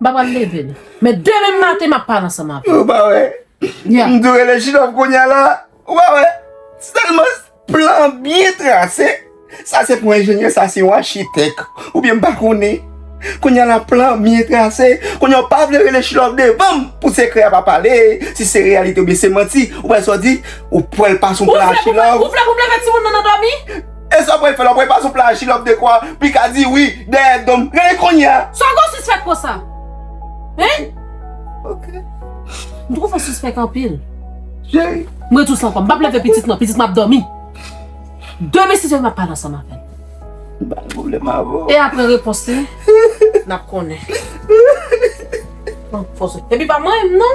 M pa pral leve l. Men demen maten m ap pale ansanm avè l. Ou pa wè. M tou rele Jidòf kounya la. Ou pa wè. Se tèlman plan an byen trase. Sa se pou enjenyè, sa se yon achitèk. Oubyen m pa konnen. Kounya la plan an byen trase. Kounya ou pa vle rele Jidòf devan m pou sekrè a pa pale. Si se reyalite oubyen se manti. Ou wè sa w di. Ou pwèl pa sou plan a Jidòf. Ou vle pou m leve timoun nan nan dòmi? E sa pral fè la pral pase yon pla jilòp de kwa pikadi wi dèyè dom gade kounya. Sa w gen w sispèk konsa? Hein? Ok. M twouve w sispèk anpil. Cheri. M ret dous lan ankò. M pap leve pitit m nan. Pitit m ap dòmi. Demen 6 è m ap pale ansanm avè l. M pa gen pwoblèm avè w. E aprè repons li n ap konnen. Epi pa manyen m non.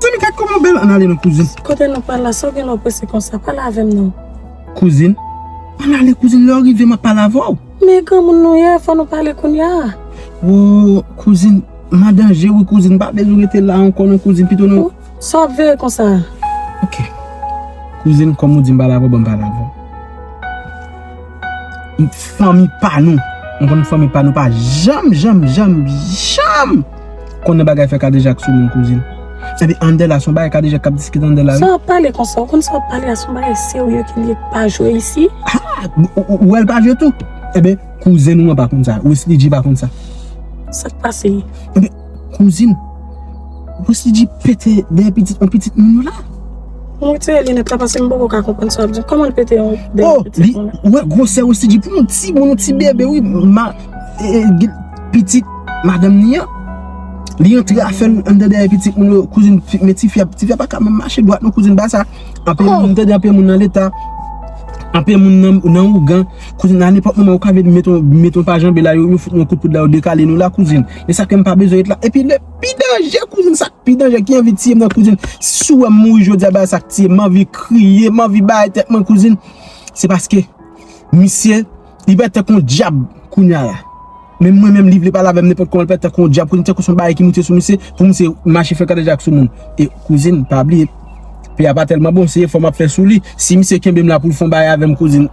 Zanmi gad kòman bèl an ale nan kouzin. Kote nou pral la sa w gen lè w prese konsa pale avè m non. Kouzin. An ale kouzin lè w rive m ap pale avè w. Men granmoun nou ye fò nou pale kounya a. Woo kouzin m an danje wi kouzin m pa bezwen rete la ankò non kouzin pito nou. Sa w ap veye konsa a. Ok kouzin kòm ou di m pale avè w ban m pale avè w. Fanmi pa nou Nou konn fanmi pa nou pa janm janm janm janm Konnen bagay fè kadejak sou moun kouzin Epi anndan la son bagay kadejak kap diskite anndan la wi Sa wap pale konsa ou konn sa wap pale a son bagay serye ki liye pa jwe isi Haa ou wèl pa jwe tou Eben kouzen ou an pa konn sa Wesley Dji pa konn sa Sak pase. Kouzin, ou panse li di pete dèyè pitit yon pitit moun yo la? Mwen retire linèt la paske m poko ka konprann sa w ap di. Kòman l pete yon dèyè pitit moun la? Oh! Ou wè gwosè Rossy di pou yon timoun, yon ti bebe wi. Pitit madanm li an, li antre afè l anndan dèyè pitit moun yo. Kouzin, men ti fi a, ti fi a pa ka menm mache dwat non kouzin. Bagay sa a, anpil moun tande, anpil moun nan leta, anpil moun nan ougan. Kouzin, a nenpòt moman yo ka vin met yon pa janbe la, yo fout nou yon kout poud la, yo dekale nou la kouzin. E sa kem pa bezwen ret la. E pi le pi danje kouzin sa pi danje ki anvi tiyem nan kouzin. Si w wèm mouri jodi a bagay sa k tiyem. M anvi kriye, m anvi bay tèt mwen kouzin. Se paske misye li pè tèt kon dyab kounya la. Men mwen menm li vle pale avèm nenpòt kòman li pè tèt kon dyab kouzin. Tankou son bagay ki moute sou misye pou misye mache fè kadejak sou moun. E kouzin pa bliye peyi a pa tèlman bon se efò m ap fè sou li. Si misye kenbe m la pou l fon bagay avèm kouzin.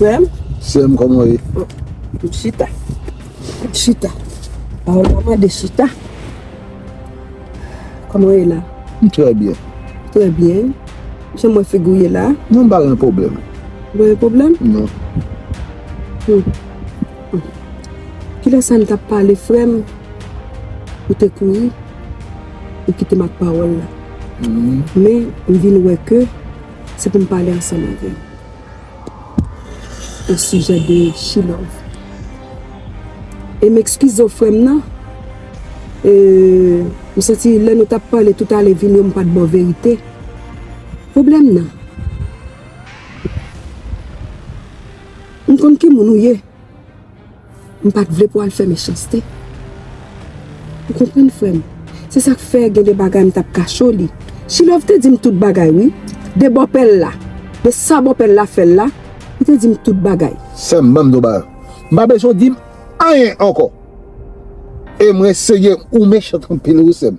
Sèm? Sèm, kòman ou ye? M chita. M chita. A ou pa mande chita? Kòman ou ye la? M trè byen. Trè byen. Jan m wè figi ou ye la? Non, m pa gen pwoblèm. Ou pa gen pwoblèm? Non. Kilè sa n t ap pale frè m? Ou te kouri? Ou kite m ak pawòl la. Men, m vin wè ke se pou m pale ansanm avè w osijè de Chilòv. E m ekskize w frè m nan, m santi lè nou t ap pale tout ale vini yo m pa t ba w verite. Pwoblèm nan, m konn ki moun ou ye. M pat vle pou al fè mechanste. Ou konprann frè m. Se sa k fè gen de bagay m t ap kache w li. Chilòv te di m tout bagay wi. De bòpè l la. De sa bòpè l la fè l la. Li te di m tout bagay. Sè m ban m di w bagay. M pa bezwen w di m anyen ankò. E mwen serye. Ou mechant anpil wi sè m.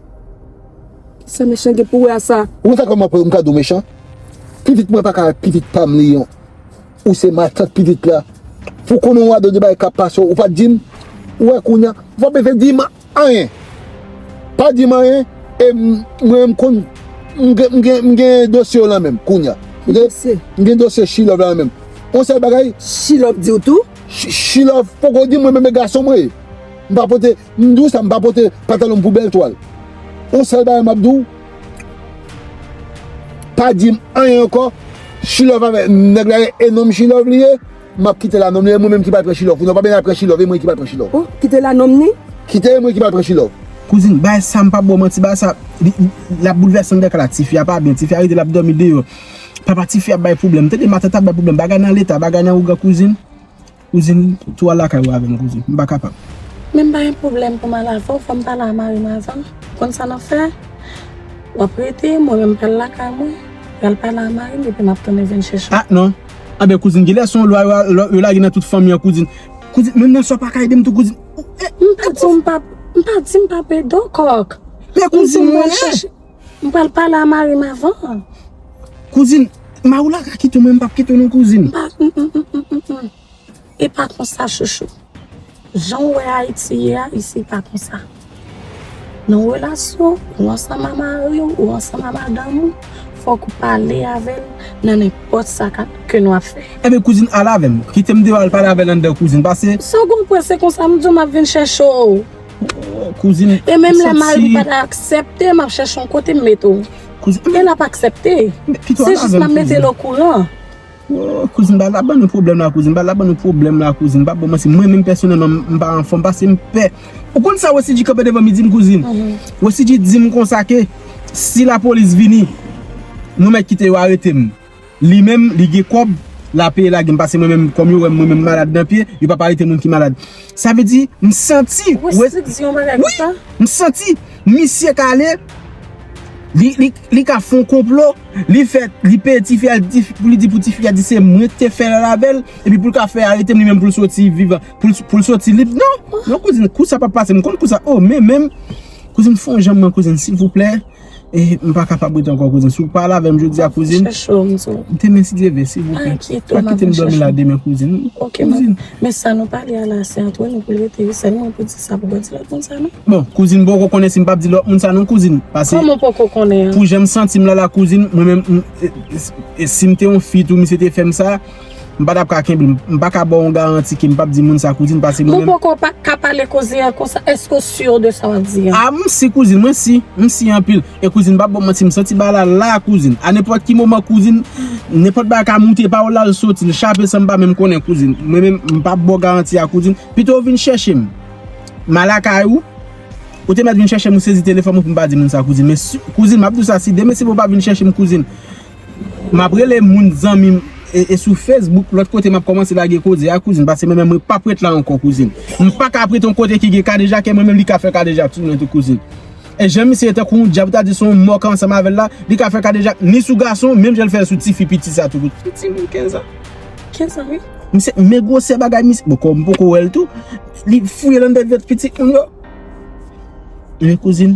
Kisa mechan gen pou wè a sa? Ou konn sa k fè m ap wè w m ka di w mechan? Pitit mwen pa ka wè pitit pa m li an. Ou se matant pitit la. Pou konnen w a 2 de bagay kap pase w ou pat dim ou wè kounya ou pa bezwen dim anyen pa dim anyen e mwen m konn m gen dosye w lan men m kounya m gen dosye chilòv la nan men m on sèl bagay chilòv diw tou chilòv poko dim mwen menm e gason mwen ye m pa pote m di w sa m pa pote patalon m pou bèl twal on sèl bagay map di w. Pa dim anyen ankò she love avè nèg la gen enom she love li ye map kite la nonm li e mwen menm ki pral pran she love pou nou pa beni ap pran she love e mwen ki pral pran she love oh kite la nonm ni kite e mwen ki pral pran she love. Kouzin bagay sa mpa baw manti bagay sa lap boulvèse anndan kay la tifi a pa byen tifi a rete lap domi deyò papa tifi a ap bay problèm tande matant ap bay problèm bagay nan leta bagay nan ougan kouzin. Kouzin, tou al lakay ou avè m kouzin. M pa kapab. Men m pa gen pwoblèm pou m al avè w. Fò m pale a mari m avan. Ou konn sa n ap fè? W ap rete, mwen menm m pral lakay mwen. M pral pale a mari m epi m ap tounen vin chèche w. Ah non! Anben kouzin, genlè se yon lwa yo lage nan tout fanmi an kouzin. Kouzin, menm nan sa w pa ka ede m tou kouzin. M pa di w m pap, m pa di m pap ede w kòk. Men kouzin mwen! M pral pale a mari m avan. Kouzin, Maula ka kite w men m pap kite w non kouzin. M pa m m m m m m. E pa konsa chouchou. Jan w wè Ayiti ye a, isi pa konsa. Nan relasyon, ou ansanm a mari w, ou ansanm a madanm ou, fòk ou pale avè l nan nenpòt sa k ap, ke nou ap fè. Enben kouzin, al avè m. Kite m deyò al pale avè l anndan kouzin, pase. San w konprann se konsa m di w m ap vin chèche w. Kouzin. E menm lè mari m pa ta aksepte map chèche yon kote m mete w. Kouzin. E lap aksepte. Pito al avèm kouzin. Se jis map mete l okouran. Kouzin ba la ban nou pwoblèm la kouzin. Ba la ban nou pwoblèm la kouzin. Bab bon manti. Mwen menm pèsonèlman m pa anfòm pase m pè. Ou konn sa Wessidji kanpe devan m li di m kouzin. Wessidji di m konsa ke si lapolis vini nou mèt kite yo arete m. Li menm li gen kob la peye lagem pase mwen menm kom yo wem mwen menm malad nan pye yo pap arete moun ki malad sa vle di m santi wi m santi misye ka ale li ka fon konplo li fe li peye tifi a pou li di pou tifi a di se mwen ki te fe lal avel epi pou l ka fe arete m li menm pou l soti vivan pou l soti lib non non kouzin kou sa pap pase m konn kou sa o men menm kouzin fon janm nan kouzin silvouplè. M pa kapab rete ankò kouzin. Si w pale avè m jodi a kouzin. M ap chèche w m di w. Demen si Dye vle silvouplè. Pa enkyete w m ap vin chèche w. Pa kite m dòmi la demen kouzin. Ok m ap. Men sa nou pale a la se antre nou pou l rete wi. Sèlman pou di sa pou w pa di lòt moun sa non. Bon kouzin m poko konnen si m pap di lòt moun sa non kouzin. Pase. Kòman w poko konnen an? Pou jan m santi m la la kouzin mwen menm m. Si m te yon fi tou misye te fè m sa. M pa tap ka kenbe l. M pa ka ba w yon garanti ke m pap di moun sa kouzin pase mwen menm. Mwen poko pa ka pale kouzin an konsa. Eske w sur de sa wap di an? A m si kouzin, mwen si. M si anpil. E kouzin m pap ba w manti m santi bagay la la kouzin. A nenpòt ki moman kouzin, nenpòt bagay ka moute pa w la l soti l chape san m pa menm konnen kouzin. Mwen menm m pap ba w garanti a kouzin. Pito w vin chèche m. M a lakay ou. Ou te mèt vin chèche m ou sezi telefòn mwen pou m pa di moun sa kouzin. Men si, kouzin map di w sa si demen si pou w pa vin chèche m kouzin. Map rele moun zanmim e sou Facebook lòt kote map kòmanse lage koze a kouzin pase mwen menm mwen pap ret la ankò kouzin m paka ap ret yon kote ki gen kadejake mwen menm li ka fè kadejak sou mwen tou kouzin e jan misye ye tankou yon djab ou ta di son mò ki ansanm avèl la li ka fè kadejak ni sou gason menm janl fè sou ti fi piti sa tou kouzin ti ti moun 15 an 15 an wi misye men gwosè bagay misye bon kòm m poko wèl tou li fouye lan dèt vèt pitit moun yo men kouzin.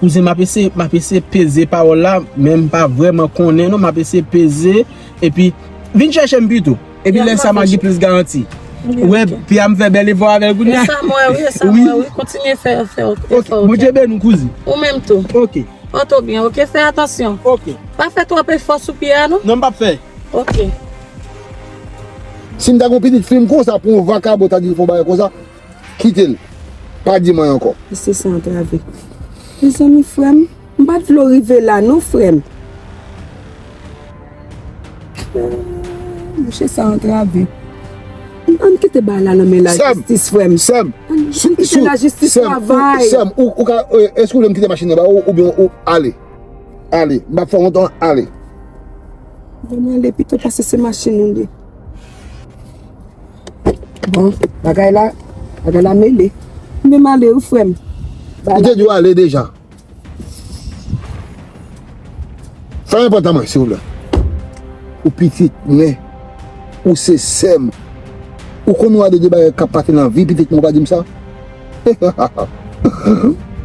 Kouzen map eseye map eseye peze pawòl la men m pa vrèman konnen non map eseye peze epi vin chèche m pito epi lè sa map gen plis garanti ou wè pye a m fè bèl efò avèl kounya esa m wè wi esa m wè wi kontinye fè efò ou fè ok bondye beni w kouzen ou menm tou ok pòte w byen ok fè atansyon ok pa fè twòp efò sou pye a non non m pap fè ok. Si m ta gen yon pitit fi m konsa pou yon vakabon ta di m fè yon bagay konsa. Kite l. Pa di mwen ankò. Mesye sa antrave. Mezanmi frè m. M pa t vle w rive la non frè m. Ooh mesye sa antrave. An n kite bagay la nan men lajistis frè m. Sè m. An n kite lajistis travay. Sè m. Ou ka. Èske ou vle m kite machin nan ba ou oubyen ou ale. Ale. M pa fè w wont an. Ale. Ban m ale pito pase se machin ou li. Bon bagay la Bagay la mele Ou menm ale wi frè m Ou te dwe ale deja Fèmen pòt la mwen silvouplè Ou pitit mwen Ou se sè m Ou konn yon a de de bagay k ap pase nan vi pitit mwen ou pa di m sa Hahaha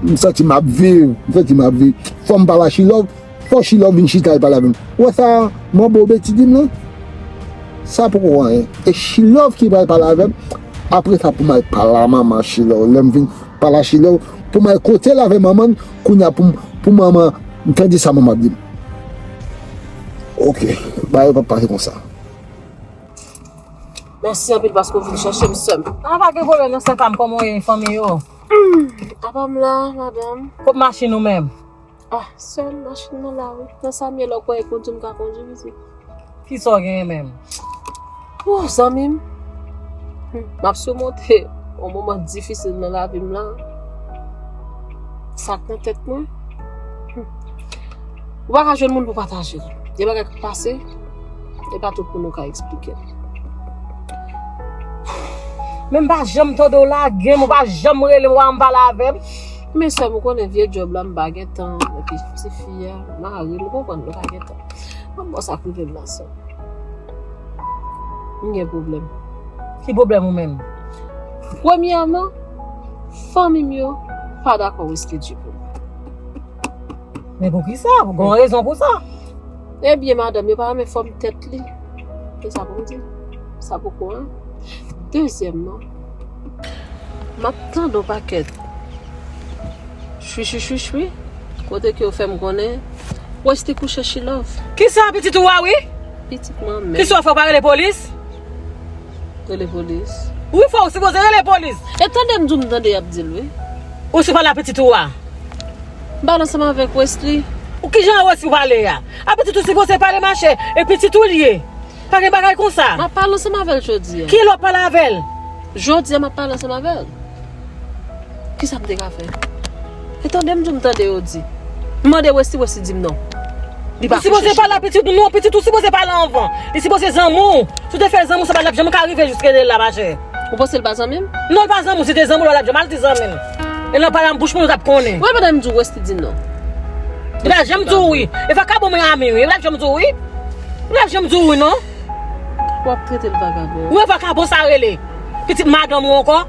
M santi m ap viv M santi m ap viv Fò m pa ba chilòv Fò Shilor vin chita e pale avèm. Ou wè sa manbo Betty dim lan? Sa poko anyen. E Shilor ki pral pale avèm, apre sa poum al pale a manman Shilor. Lèm vin pale a Shilor, poum al kotel avè manmann, kounya poum pou manman tande sa manman ap dim. Ok, bagay yo pap pase konsa. Mèsi anpil paske ou vin chèchem sèm. Ah pa gen pwoblèm nan sè pam, kòman ou ye, fanmi yo? Apam la, madanm. Kot machin ou menm? Ah sèm machin nan la wi. Nan sa m ye la ou kwè e kondwi m ka kondwi pitit? Kisa w genyen menm? Ooh zanmi m M ap simonte yon moman difisil nan lavi m lan Sa k nan tèt mwen Ou pa ka jwenn moun pou pataje l Gen bagay k ap pase e pa tout moun ou ka eksplike l Men m pa janm tande w lage m ou pa janm rele m wa m pale avè m Men sèm ou konnen vye job la m pa gen tan epi ti fi a mari l ou konprann mwen pa gen tan bon bon sa k rive m nan sèm m gen pwoblèm. Ki pwoblèm ou menm? Premyèman fanmi m yo pa dakò reskedjil pou mwen. Men poukisa? Gen yon rezon pou sa? Ebyen madanm yo pa renmen fòm tèt li se sa pou m di sa poko 1 dezyèmman. Map tande yon pakèt chwichwichwichwi kote ke yo fèm konnen Westy kouche Chilove. Kisa pitit ou a wi? Pitit mwen menm. Kisa ou fè ou pa rele polis? Rele polis? Wi fò ou sipoze rele polis. E tande m di w m tande yap di l wi. Ou sou pale a pitit ou a? M pale ansanm avèk Westy. Kijan Westy pale a? A pitit ou sipoze pale machè e pitit ou l ye. Pa gen bagay konsa. Map pale ansanm avèl jodi an. Kilè wap pale avèl? Jodi an map pale ansanm avèl. Kisa m te ka fè? E tande m di w m tande yo di. M mande Westy, Westy di m non. Li pa kouche chita. Ou sipoze pale a pitit ou. Non pitit ou sipoze pale anvan. Li sipoze zanmi w. Si w te fè zanmi w sa pa tap janm ka rive jiske li la ma chè. Ou panse li pa zanmi m? Non li pa zanmi w. Si li te zanmi w li pa tap janm al di zanmi l. E nan pale a m bouch moun yo tap konnen. Wè pandan m di w Westy di non. Li pa janm di w wi. Li pa ka bon moun ami wi. Li pa janm di w wi. Ou pap janm di wi non. Wap tretel vagabon. Wi vakabon sa rele. Pitit madanm ou ankò.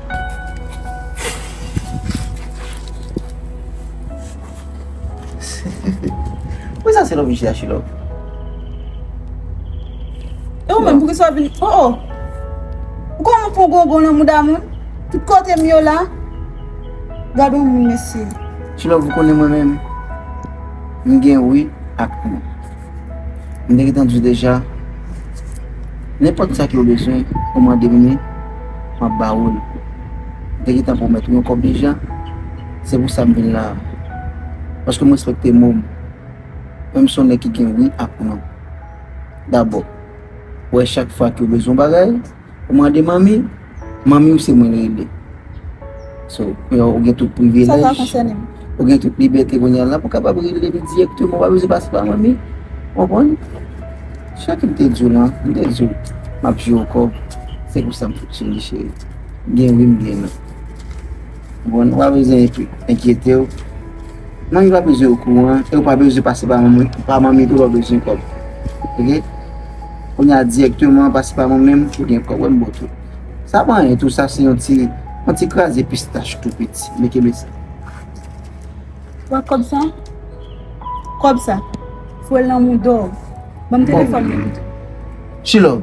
Wi sa se love ui achilove. E ou menm poukisa wap vin oh oh. Ou konn ou pran gongon nan mouda moun. Tout kotem yo la. Gad on moun mesye. Achilove ou konnen mwen menm. M gen wi ak non. M te gentan di w deja, nenpòt sa ki ou bezwen, ou mande m li, m ap ba ou l. M te gentan pwomèt ou yon kòb deja, se pou sa m vin la a. Paske m respekte mo m. Menm si w se yon nèg ki gen wi ak non. Dabò, ou wè chak fwa ke ou bezwen yon bagay, Ou mande manmi, manmiw se mwen rele. So, ou gen tout privilèj. Sa pa konsène m. Ou gen tout libète kounya la pou kapab rele m direkteman. Ou pa bezwen pase pa manmi. Ou konprann? Sa kem te diw lan, m te diw map jwe w kòb. Se konsa m fonksyone cheri. Gen wi m gen non. Bon ou pa bezwen enkyetew manmi pa bezwen okouran e ou pa bezwen pase pa manmi pa manmi pou ou bezwen kob ok kounya direkteman pase pa mwen menm pou gen kob wèm bon tou sa pa anyen tou sa se yon ti yon ti kraze pistach tou piti men kenbe sa. Wè kob sa kob sa fwe lanmou dow banm telefon nan pito. Chilove.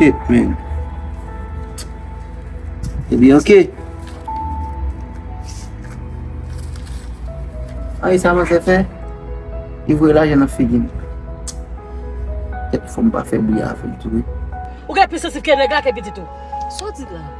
Shit men Yo di ok Ayi sa manzè fè Li voye lajan nan figi m Fòm pa fè bri a avèl tou wi Ou gen plis sansib ke nèg la ke pitit ou Sa w di la?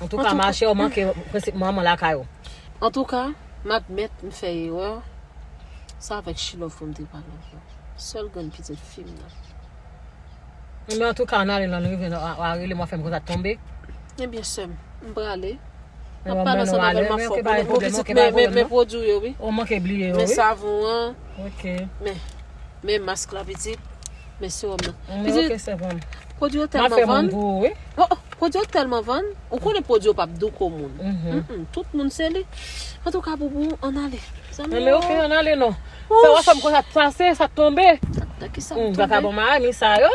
Antouka ma chè ou manke prensip manman lakay ou. Antouka, m admèt m fè erè, se avèk Shilove pou m te pale ak yo. Sèl grenn pitit fi m nan. Ebyen antouka ann ale lè n rive wa rele m wa fè m konsa tonbe. Ebyen sè m, m prale. M ap pale ansanm avè l m ap fè w konnen gwo pitit men pwodwi w yo wi. Ou manke bliye yo wi. Men savon an, men mask la pitit. Men sewòm nan. Mwen ok sèvòm. Pwodwi yo tèlman vann. Mwen fè moun gou wi. Pwodwi yo tèlman vann. Ou konnen pwodwi yo pa p dou kou moun. Tout moun se li. An tou ka boubou an ale. Zanmi yo. Mwen ok an ale non. Sa wap fèm konsa sa se sa k tonbe. Nan ki sa m tonbe. Vakabon ma a ni sa yo.